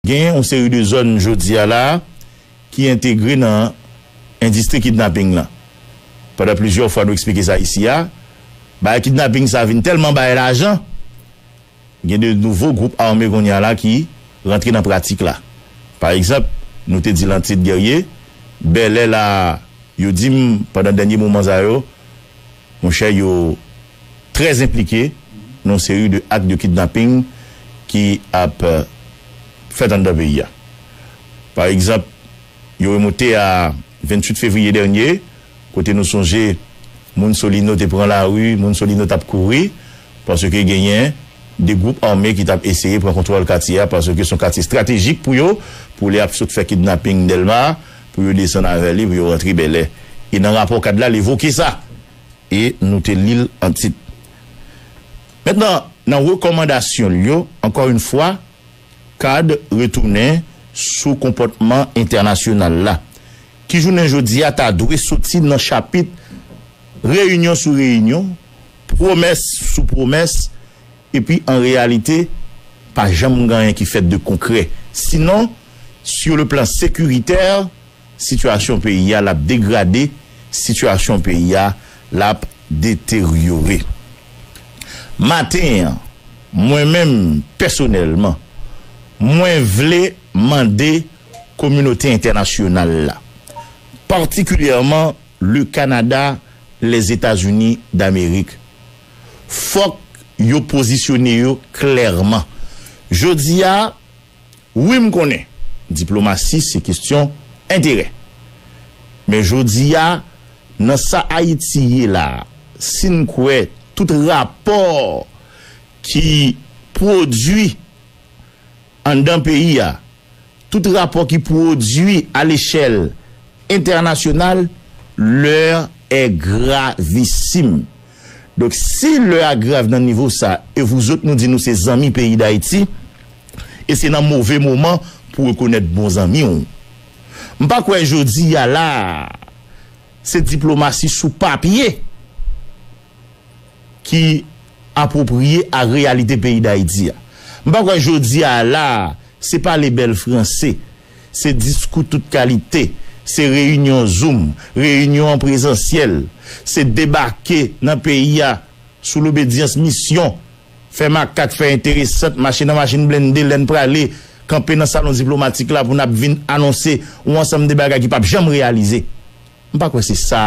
Genyen yon seri de zòn jodi a la a ki entegre nan endistri kidnaping lan. Pandan plizyè fwa nou eksplike sa isi a, bagay kidnaping sa vin tèlman bay lajan, gen de nouvo gwoup ame kounye a la ki rantre nan pratik la. Pa egzanp, nou te di l an tit Guerrier, Bèlè la a, yo di m pandan dènye moman sa yo, monchè yo. trè enplike nan yon seri de ak de kidnaping ki ap fèt anndan peyi a. Pa egzanp, yo remonte a 28 fevriye dènye, kote nou sonje moun Solino te pran lari, moun Solino t ap kouri, paske genyen 2 gwoup ame ki t ap eseye pran kontwòl katye a, paske se yon katye estratejik pou yo, pou lè y ap sot fè kidnaping Dèlma, pou yo desann avè li, pou yo rantre Bèlè. E nan rapò kad la, l evoke sa. e nou te li l an tit. Mentnan, nan rekòmandasyon l yo, ankò yon fwa, card retounen sou konpòtman entènasyonal la, ki jounen jodi a ta dwe soti nan chapit reyinyon sou reyinyon, pwomès sou pwomès, epi an reyalite, pa janm gen anyen ki fèt de konkrè. Sinon, sur le plan sécuritaire, Sitiyasyon peyi a lap degrade sitiyasyon peyi a lap deteryore maten an mwen menm pèsonèlman mwen vle mande kominote entènasyonal la patikilyèman le Canada les Etats Unis d'Amerique fòk yo pozisyone yo klèman jodi a Wi m konnen diplomasi se kestyon enterè. Men jodi a nan sa Ayiti ye la a, si n kwè tout rapò ki pwodui anndan peyi a, tout rapò ki pwodui alechèl entènasyonal, lè è gravisim. Donk si lè a grav nan nivo sa e vouzot nou di nou se zanmi peyi Dayiti e se nan move moman pou rekonèt bon zanmi w. M pa kwè jodi a la a se diplomasi sou papye ki apwopriye a reyalite peyi Dayiti a. M pa kwè jodi a la a se pale bèl franse Se diskou tout kalite, se reyinyon zoum, reyinyon an prezansyèl, se debake nan peyi a sou lobedyans misyon, fè makak, fè enteresant, mache nan machin blende lè n prale, kanpe nan salon diplomatik la pou n ap vin anonse yon ansanm de bagay ki pap janm reyalize. M pa kwè se sa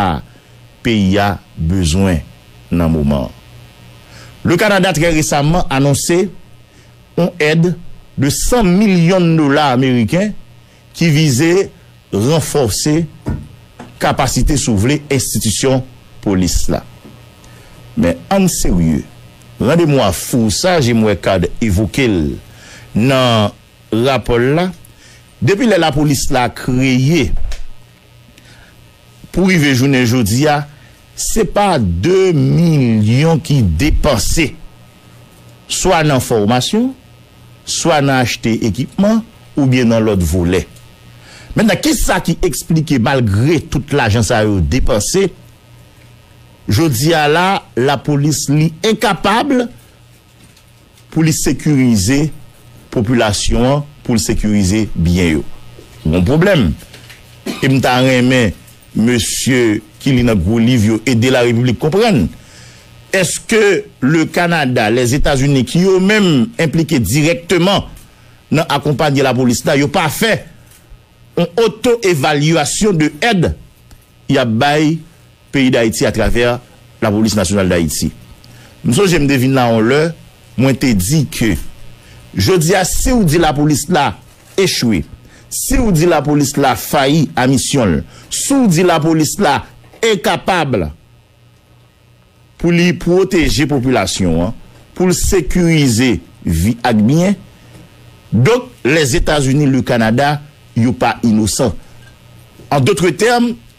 peyi a bezwen nan moman an. Le Kanada trè resaman anonse. Yon èd de 100 milyon dola ameriken ki vize ranfòse kapasite sou vle enstitisyon polis la. Men ann serye, randemwa fou sa je m wè Card evoke l nan rapò l la, depi lè lapolis la kreye, Pou rive jounen jodi a, se pa 2 milyon ki depanse swa nan fòmasyon, swa nan achte ekipman oubyen nan lòt volè. Mentnan ki sa ki eksplike malgre tout lajan sa yo depanse, jodi a la lapolis li enkapab pou li sekirize popilasyon an, pou l sekirize byen yo. Gon pwoblèm. E m ta renmen mesye ki li nan gwo liv yo ede Larepiblik konprann. Eske le Kanada, Lèzetazini ki yo menm enplike dirèkteman nan akonpanye lapolis la, yo pa fè yon oto-evalyasyon de èd y ap bay peyi Dayiti atravè Lapolis Nasyonal Dayiti. M sonje m te vin la yon lè, mwen te di ke jodi a si w di Lapolis la echwe, si w di Lapolis la fayi a misyon l, si w di Lapolis la enkapab pou li pwoteje popilasyon an, pou l sekirize vi ak byen, donk Lèzetazini, Lekanada yo pa inosan. An dotre tèm,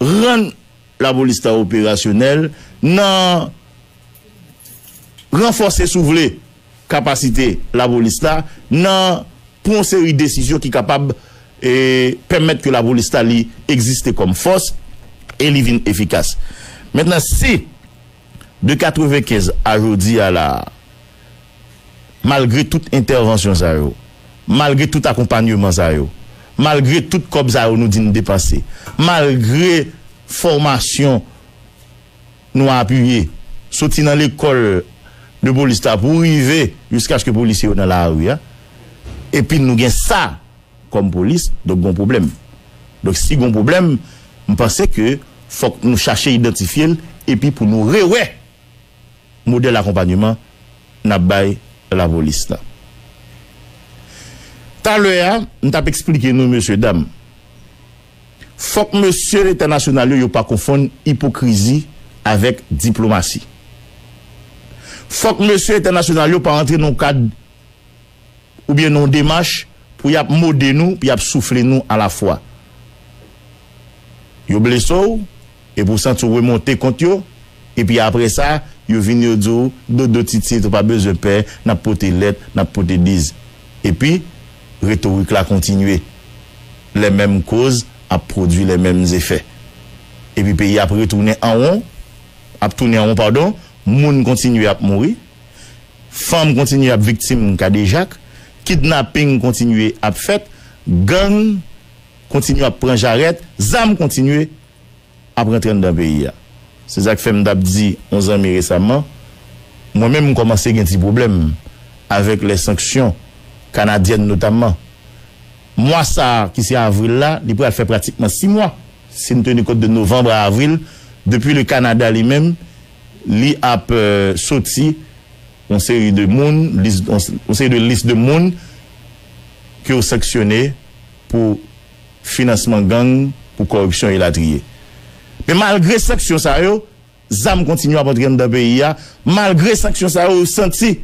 Rann lapolis la operasyonèl nan ranfòse si w vle kapasite lapolis la nan pran yon seri desizyon ki kapab pèmèt ke lapolis la li egziste kòm fòs e li vin efikas. Mentnan si. De 95 a jodi a la a, malgre tout entèvansyon sa yo, malgre tout akonpanyeman sa yo, malgre tout kòb sa yo nou di n depanse, malgre fòmasyon nou apiye soti nan lekòl de polis la pou rive jiskaske polisye yo nan lari a, epi nou gen sa. Kòm polis, donk gon pwoblèm. Donk si gon pwoblèm, m panse ke fòk nou chache idantifye l epi pou nou rewè modèl akonpanyeman n ap bay lapolis la. Talè a, m t ap esplike nou mesye dam, fòk mesye entènasyonal yo, yo pa konfonn ipokrizi avèk diplomasi. Fòk mesye entènasyonal yo pa rantre nan yon kad oubyen nan yon demach pou y ap mode nou, pou y ap soufle nou alafwa. Yo blese w, epi ou santi w remonte kont yo, epi apre sa, yo vini yo di w, Dodo titit, ou pa bezwen pè, n ap pote lèt, n ap pote biz. Epi, retorik la kontinye. Lè menm koz ap pwodui lè menm zefè. Epi peyi a ap retounen an won, ap tounen an won padon, moun kontinye ap mouri. Fanm kontinye ap viktim kadejak, kidnaping kontinye ap fèt, gang kontinye ap pran jarèt, zam kontinye ap rantre anndan peyi a. Se sa k fè m t ap di yon zanmi resamman, mwen menm m kòmanse gen ti pwoblèm avèk lè sanksyon kanadyèn notamman. Mwa sa a ki se avril la, li pral fè pratikman si mwa, si n teni kont de novanm a avril, depi le Kanada li menm Li ap soti yon seri de moun, yon seri de lis de moun ke yo sanksyone pou finansman gang, pou kòripsyon elatriye. Men malgre sanksyon sa yo, zam kontinye ap antre anndan peyi a, malgre sanksyon sa yo, yo santi.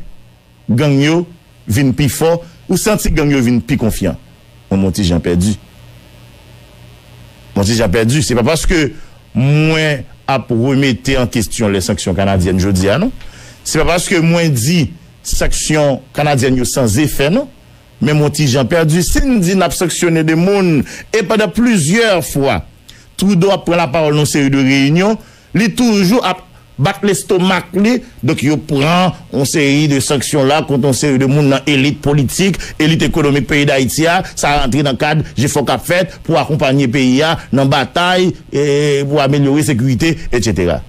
Gang yo vin pi fò, ou santi gang yo vin pi konfyan. Mwen mon ti jan pèdi. Mon ti jan pèdi, se pa paske mwen ap remete an kestyon lè sanksyon kanadyèn jodi a non. Se pa paske mwen di sanksyon kanadyèn yo san zefè non. Men mon ti jan pèdi, si n di n ap sanksyone de moun e pandan plizyè fwa Trudeau ap pran lapawòl nan yon seri de reyinyon, Li toujou ap bat lestomak li, donk yo pran yon seri de sanksyon la kont yon seri de moun nan elit politik, elit ekonomik peyi Dayiti a, sa rantre nan kad jefò k ap fèt pou akonpanye peyi a nan batay pou amelyore sekirite, etsetera.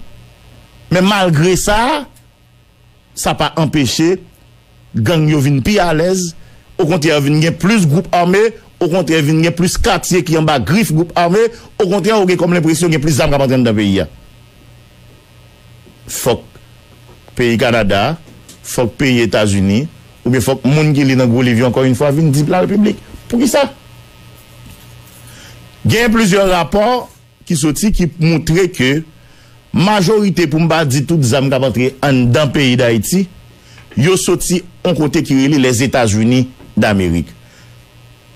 Men malgre sa, Sa pa anpeche gang yo vin pi alèz, okontrè vin gen plis gwoup ame, okontrè vin gen plis katye ki anba grif gwoup ame, okontrè ou gen kòm lenpresyon gen plis zam k ap antre anndan peyi a. Fòk peyi Kanada, fòk peyi Etazini oubyen fòk moun ki li nan gwo liv yo ankò infwa vin di l pral piblik. Poukisa? Gen plizyè rapò. ki soti ki moutre ke majorite pou m pa di tout zam k ap antre anndan peyi Dayiti yo soti yon kote ki rele Lèzetazini Damerik.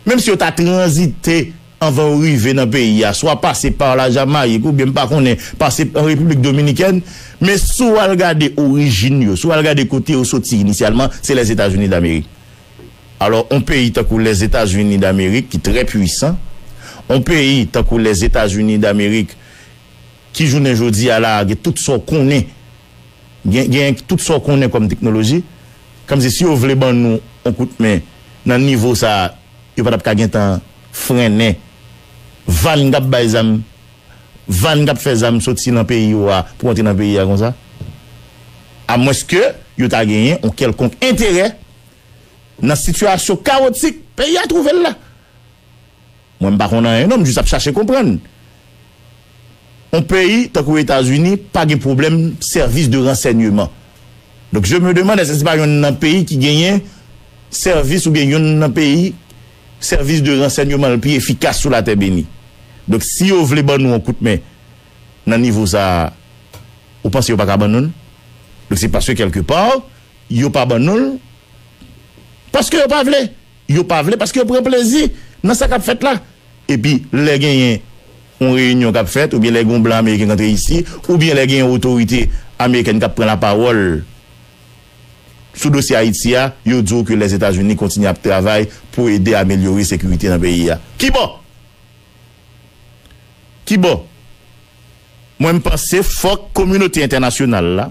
Menm si yo ta tranzite anvan yo rive nan peyi a, swa pase pa la Jamayik oubyen m pa konnen pase pa Repiblik Dominikèn, men si w al gade orijin yo, si w al gade kote yo soti inisyalman, se Lèzetazini Damerik. Alò on peyi tankou Lèzetazini Damerik ki trè pwisan, on peyi tankou Lèzetazini Damerik ki jounen jodi a la a gen tout sa w konnen, gen gen tout sa w konnen kòm teknoloji, kòmsi si yo vle ban nou on kout men nan nivo sa a yo pa t ap ka gen tan frennen van k ap bay zam, van k ap fè zam soti nan peyi yo a pou antre nan peyi a konsa? Amwenske yo ta genyen on kèlkonk enterè nan sitiyasyon kawotik peyi a twouve l la. Mwen m pa konn anyen non, m jis ap chache konprann. On peyi tankou Etazini pa gen pwoblèm sèvis de ransènyeman. Donk je me demande èske se pa yonn nan peyi ki genyen sèvis oubyen yonn nan peyi sèvis de ransènyeman l pi efikas sou latè beni. Donk si yo vle ban nou on kout men nan nivo sa a, ou panse yo pa ka ban nou l? Donk se paske kèlke pa, Yo pa ban nou l. Paske yo pa vle. Yo pa vle paske yo pran plezi nan sa k ap fèt la. Epi lè genyen yon reyinyon k ap fèt oubyen lè gen yon blan ameriken k antre isi oubyen lè gen yon otorite amerikèn k ap pran lapawòl sou dosye Ayiti a, yo di w ke Lèzetazini kontinye ap travay pou ede amelyore sekirite nan peyi a. Kibò? Kibò? Mwen m panse fòk kominote entènasyonal la,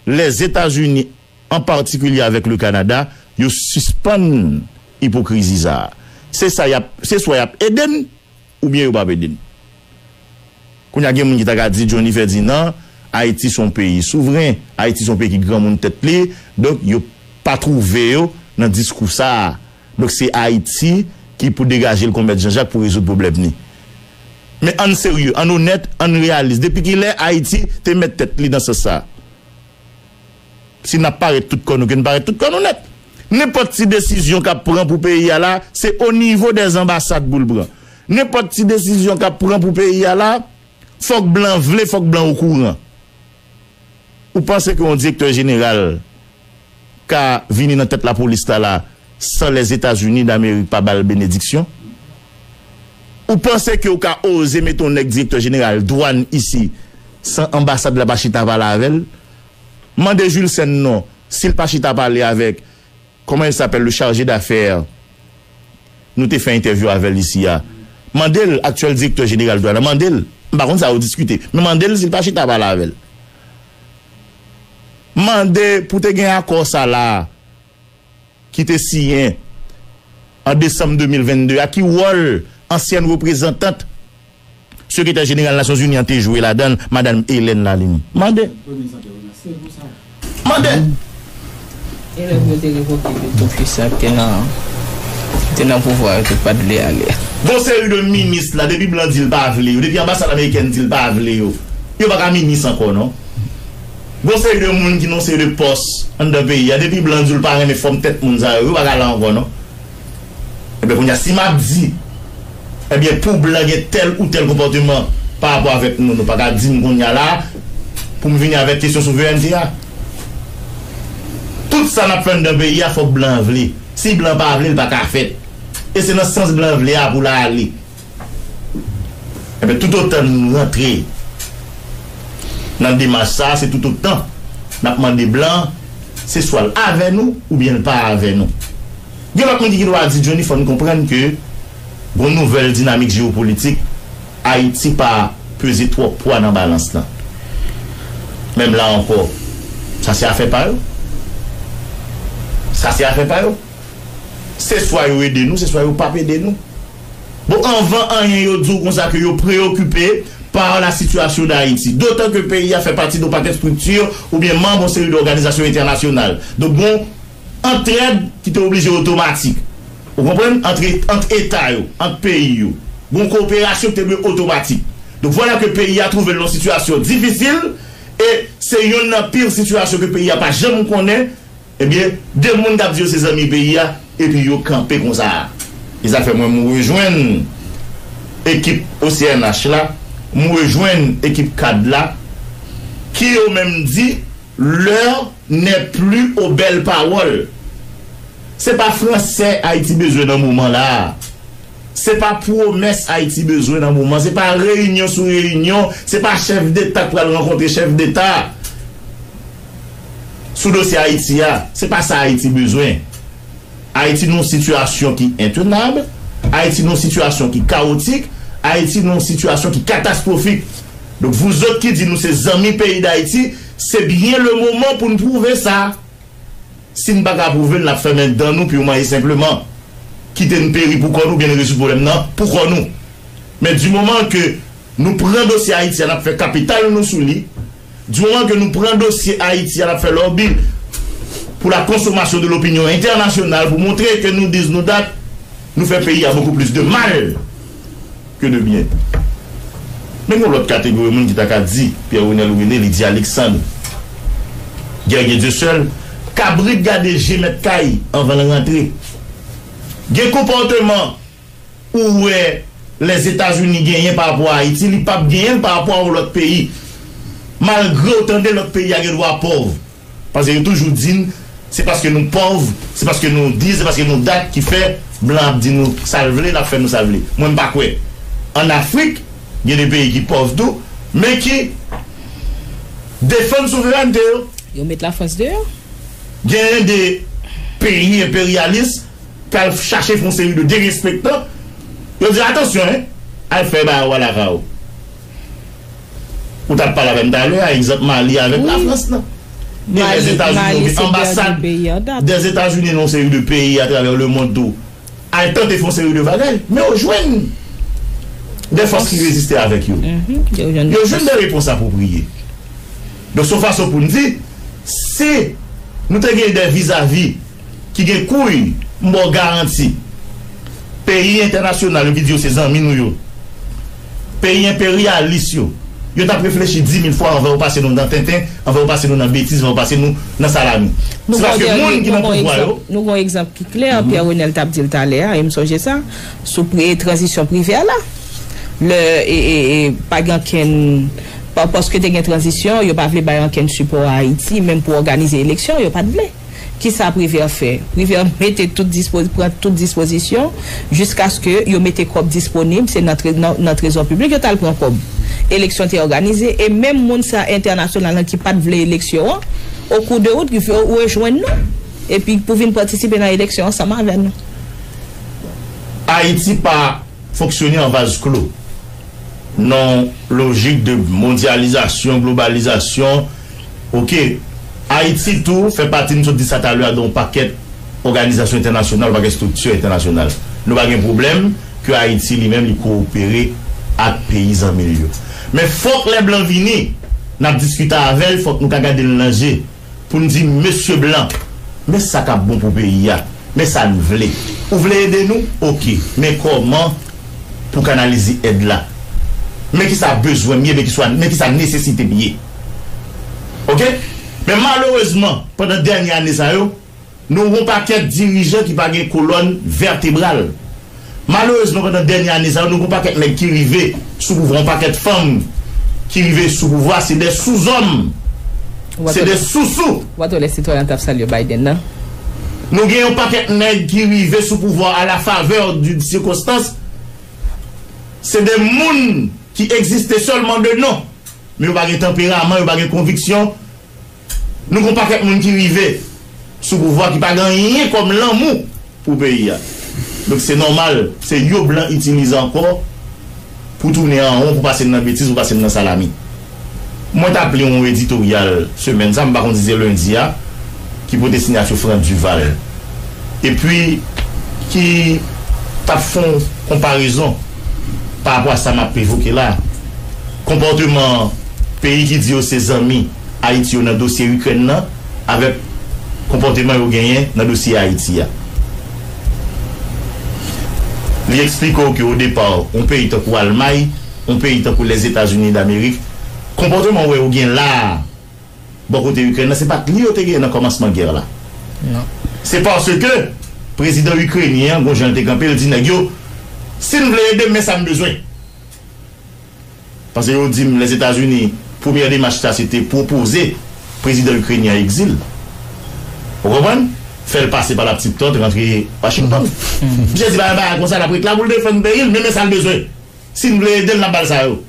Lèzetazini an patikilye avèk le Kanada yo sispann ipokrizi sa a. Se sa y ap, se swa y ap ede n oubyen yo p ap ede n. Kounye a gen moun ki ta ka di Jhonny Ferdinand, Ayiti se yon peyi souvren, Ayiti se yon peyi ki granmoun tèt li, donk yo pa twouve yo nan diskou sa a. Donk se Ayiti ki pou degaje l kon mèt Jan Jak pou rezoud pwoblèm li. Men ann serye, ann onèt, ann reyalis, depi ki lè Ayiti te mèt tèt li nan sans sa a? Si n ap parèt tout kò nou, ke n parèt tout kò nou nèt. Nenpòt ti desizyon k ap pran pou peyi a la, se onivo dè zanbasad pou l pran. Nenpòt ti desizyon k ap pran pou peyi a la, fòk blan vle, fòk blan okouran. Ou panse ke yon direktè jeneral ka vini nan tèt lapolis la la san Lèzetazini Damerik pa ba l benediksyon? Ou panse ke ou ka oze mete yon nèg direktè jeneral dwàn isi san anbasad la pa chita pale avè l? Mande Julcèn non si l pa chita pale avèk Comment il s'appelle le charge d'affaires nou te fè entèvyou avèl isi a mandel aktyèl direktè jeneral dwàn nan mandel m pa konn sa yo diskite men mandel si l pa chita pale avèl mande pou te gen akò sa la ki te siyen an desanm 2022 a ki wòl ansyèn reprezantant Sekretè Jeneral Nasyonzini an te jwe ladan l, Madan Helen Lalimi. Mande. Mande. Elèv yo te revoke tout ofisye a ki te nan pouvwa yo te pa t vle ale. Gon seri de minis la depi blan di l pa vle yo, depi anbasad amerikèn di l pa vle yo, yo pa ka minis ankò non. Gon seri de moun ki nan yon seri de pòs anndan peyi a depi blan di w l pa renmen fòm tèt moun sa yo, yo pa ka la ankò non. Ebyen kounya si map di ebyen pou blan gen tèl ou tèl konpòteman pa rapò avèk nou nou paka dim kounya la poum vini avèk kesyon souverènte a. Tout sa nap fè anndan peyi a fòk blan vle. Si blan pa vle li paka fèt. E se nan sans blan vle a poul ale. Enben, toutotan n rantre nan demach sa a, se toutotan n ap mande blan se swa l avè nou oubyen l pa avè nou. Gen lòt moun ki gen dwa di Johnny fò n konprann ke gon nouvèl dinamik jewopolitik, Ayiti pa peze twòp pwa nan balans lan. Menm la ankò, sa se afè pa yo. Sa se afè pa yo. Se swa yo ede nou, se swa yo p ap ede nou. Bon anvan anyen yo di w konsa ke yo preyokipe par la sitiyasyon Dayiti. Dotan ke peyi a fè pati don pakèt strikti oubyen manb on seri dòganizasyon entènasyonal. Donk gon antrèd ki te oblije otomatik. Ou konprann? Antre ant eta yo, ant peyi yo. Gon koperasyon ki te dwe otomatik. Donk vwala ke peyi a twouve l nan sitiyasyon difisil e se yonn nan pir sitiyasyon ke peyi a pa janm konnen. Ebyen, 2 moun kap di yo se zanmi peyi a epi yo kanpe konsa a. E sa fè mwen m rejwenn ekip OCNH la, m rejwenn ekip cad la ki yo menm di l'heure n'est plus aux belles paroles. Se pa fransè Ayiti bezwen nan moman la a. Se pa pwomès Ayiti bezwen nan moman, se pa reyinyon sou reyinyon, se pa chèf deta k pral rankontre chèf deta sou dosye Ayiti a. Se pa sa Ayiti bezwen. Ayiti nan yon sitiyasyon ki entenab, Ayiti nan yon sitiyasyon ki kawotik, Ayiti nan yon sitiyasyon ki katastwofik. Donk vouzòt ki di nou se zanmi peyi Dayiti, se byen lemoman pou n pwouve sa. Si n pa ka apwouve l, n ap fèmen dan nou pou yon mwayen senpleman kite n peri pou kò nou oubyen n rezoud pwoblèm nan pou kò nou. Men di moman ke nou pran dosye Ayiti a, n ap fè kapital nou sou li. Di moman ke nou pran dosye Ayiti a, n ap fè lòbi pou la konsomasyon de lopinyon entènasyonal pou montre ke nou diz nou dat nou fè peyi a bokou plis de mal. que de bien. Men gon lòt kategori moun ki ta ka di Pierre Renel René li di Alixandre Guerrier Dieuseul kabrit gade je mèt kay anvan l rantre. Gen konpòteman ou wè Lèzetazini genyen pa rapò a Ayiti li pap genyen l pa rapò a yon lòt peyi malgre ou tande lòt peyi a gen dwa pòv. Paske yo toujou di n se paske nou pòv, se paske nou di, se paske nou dat ki fè blan ap di nou sa l vle, l ap fè nou sa l vle. Mwen m pa kwè. Ann Afrik, gen de peyi ki pòv tou, men ki defann souverènte yo. Yo met Lafrans deyò. Gen de peyi enperyalis k al chache fè yon seri de derespektan, yo di atansyon, al fè bawo a lakay ou. Ou tap pale avèm talè a egzanp Mali avèk la France nan. Gen lè Zetazini yo gen anbasad dè Etazini nan yon seri de peyi atravè le mond tou al tante fon seri de bagay men yo jwenn dè fòs ki reziste avèk yo. Yo jwenn dè repons apwopriye. Donk son fason poun di si nou te gen dè vizavi. ki gen kouy m baw garanti peyi entènasyonal yo ki di yo se zanmi nou yo peyi enperyalis yo yo tap reflechi dimil fwa anvan yo pase nou nan tenten anvan yo pase nou nan betiz anvan yo pase nou nan salami se paske moun ki nan pouvwa yo. Nou gon egzanp ki klè Pierre Renel tap dil talè a e m sonje sa sou tranzisyon privè la lè pa gen ankenn paske te gen tranzisyon yo pa vle bay ankenn sipò a Ayiti menm pou òganize eleksyon yo pat vle. Ki sa Privert fè? Privert mete tout dispoz, pran tout dispozisyon jiskaske yo mete kòb disponib, se nan tre, nan, nan trezò piblik yo t al pran kòb. Eleksyon te òganize e menm moun sa entènasyonal lan ki pa t vle eleksyon an, o kou de wout, rive rejwenn nou epi pou vin patisipe nan eleksyon ansanm avè nou. Ayiti pa fonksyone an vaz klo, nan lojik de mondyalizasyon, globalizasyon. Ok. Ayiti tou fè pati, m sot di sa talè a, de yon pakèt òganizasyon entènasyonal, yon pakèt estrikti entènasyonal. Nou pa gen pwoblèm ke Ayiti li menm li kowopere ak peyi zanmi l yo. Men fòk lè blan vini, n ap diskite avè l, fòk nou ka gade l nan je pou n di, Mesye blan, men sa k ap bon pou peyi a, men sa n vle. Ou vle ede nou? Ok. Men kòman pou kanalize èd la? Men ki sa bezwen m ye? Men ki sa nesesite m ye? Ok men malerezman pandan dènye ane sa yo nou wè yon pakèt dirijan ki pa gen kolòn vètebral malerezman pandan dènye ane sa yo nou wè yon pakèt nèg ki rive sou pouvwa yon pakèt fanm ki rive sou pouvwa se de souzòm se de sousou. Ou pa t wè lè sitwayen an t ap salye Biden nan? Nou gen yon pakèt nèg ki rive sou pouvwa a la favè d'une circonstance se de moun ki egziste sèlman de non. Men yo pa gen tanperaman, yo pa gen konviksyon. Nou gen yon pakèt moun ki rive sou pouvwa ki pa gen anyen kòm lanmou pou peyi a. Donk se nòmal, se yo blan itilize ankò pou tounen an won, pou pase n nan betiz, pou pase n nan salami. Mwen t ap li yon editoryal semèn sa, m pa konn si se lendi a, ki pote sinyati Frantz Duval. Epi ki t ap fè yon konparezon. Parapò a sa m ap evoke la, konpòteman peyi ki di yo se zanmi Ayiti yo nan dosye Ikrèn nan avèk konpòteman yo genyen nan dosye Ayiti a. Li eksplike w ke odepa, yon peyi tankou Almay, yon peyi tankou Lèzetazinidamerik, konpòteman wè yo gen la a, bò kote Ikrèn nan, se pa t li yo te genyen nan kòmansman gè la. Se paske prezidan ikrenyen an gon jan l te kanpe, l di nèg yo, si n vle ede m, men sa m bezwen. Pase yo di m Lèzetazini, premyè demach sa se te pwopoze prezidan ikrenyen an egzil. Ou konprann? Fè l pase pa laptit pant, rantre Washington. Misye di pa gen bagay konsa, l ap ret la pou l defann peyi l, men men sa l bezwen. Si n vle ede l, n ap ba l sa yo.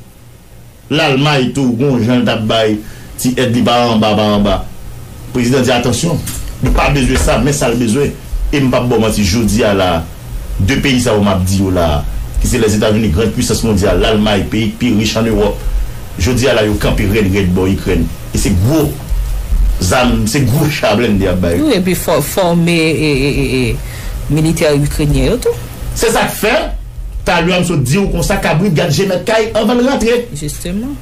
Lalmay tou gon jan l tap bay ti èd li pa anba pa anba. Prezidan di atansyon, li pa bezwen sa men sa l bezwen e m pap ba w manti jodi a la a 2 peyi sa yo map di yo la a ki se Lèzetazini grand pwisans mondyal, Lalmay peyi k pi rich an Ewòp jodi a la yo kanpe rèd rèd bò Ikrèn e se gwo zam, se gwo cha blende yap bay yo. Wi epi fòme militè Ikrenyen yo tou. Se sak fè. Talua m sot diw konsa kabrit gad je mèt kay anvan l rantre. Jisteman.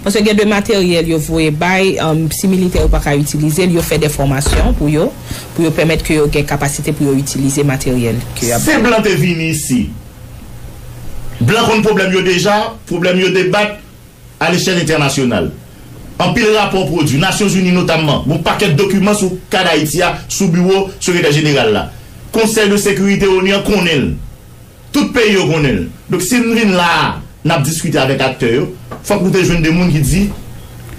Paske gen de materyèl yo voye bay, si militè yo pa ka itilize l, yo fè de fòmasyon pou yo, pou yo pèmèt ke yo gen kapasite pou yo itilize materyèl ke y ap bay. Se blan te vini isi. Blan konn pwoblèm yo deja, pwoblèm yo debat. A lechèl entènasyonal, anpil rapò pwodui. Nasyonzini notamman, gon pakèt dokiman sou ka Dayiti a sou biwo Sekretè Jeneral la. Konsèy de Sekirite onu an konnen l. Tout peyi yo konnen l. Donk si n vin la a, n ap diskite avèk aktè yo, fòk nou te jwenn 2 moun ki di,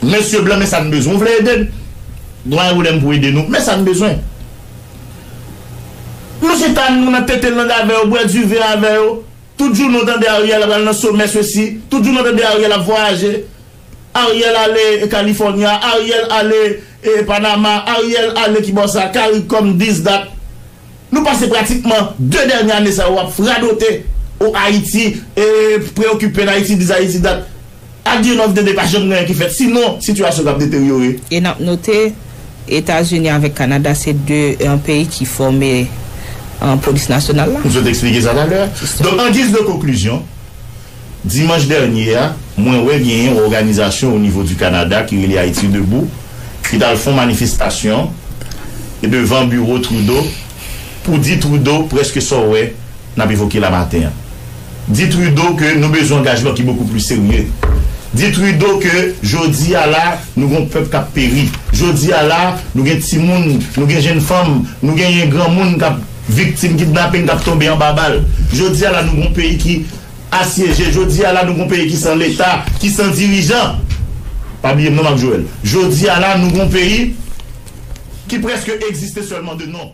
Mesye blan, men sa n bezwen. Ou vle ede n? Dwayen Woulè, M pou ede nou. Men sa n bezwen. Nou chita, nou nan tete lang avè yo, bwè diven avè yo. Tout jounen ou tande Ariel ap al nan somè sesi, tout jounen ou tande Ariel ap vwayaje, Ariel ale California, Ariel ale Panama, Ariel ale kibò sa, Caricom this that. Nou pase pratikman 2 dènye ane sa yo ap radote oh Ayiti, preokipe n Ayiti this Ayiti that. Adye love dede pa janm gen anyen ki fèt si non sitiyasyon kap deteryore. E nap note Etazini avèk Kanada se 2 peyi ki fòme Polis Nasyonal la. M sot eksplike sa talè a. Donk an giz de konklizyon, dimanch dènye a mwen wè gen yon òganizasyon o nivo di Kanada ki rele Ayiti Debou ki tal fon manifestasyon devan biwo Trudeau pou di Trudeau prèske sa w wè n ap evoke la maten an. Di Trudeau ke nou bezwen angajman ki bokou plis serye. Di Trudeau ke jodi a la nou gen yon pèp k ap peri. Jodi a la nou gen timoun, nou gen jenn fanm, nou genyen granmoun k ap viktim kidnaping, k ap tonbe anba bal. Jodi a la nou gen yon peyi ki asyeje. Jodi a la nou gen yon peyi ki san leta, ki san dirijan. Pa bliye m non Marc Joël. Jodi a la nou gen yon peyi ki prèske egziste sèlman de non.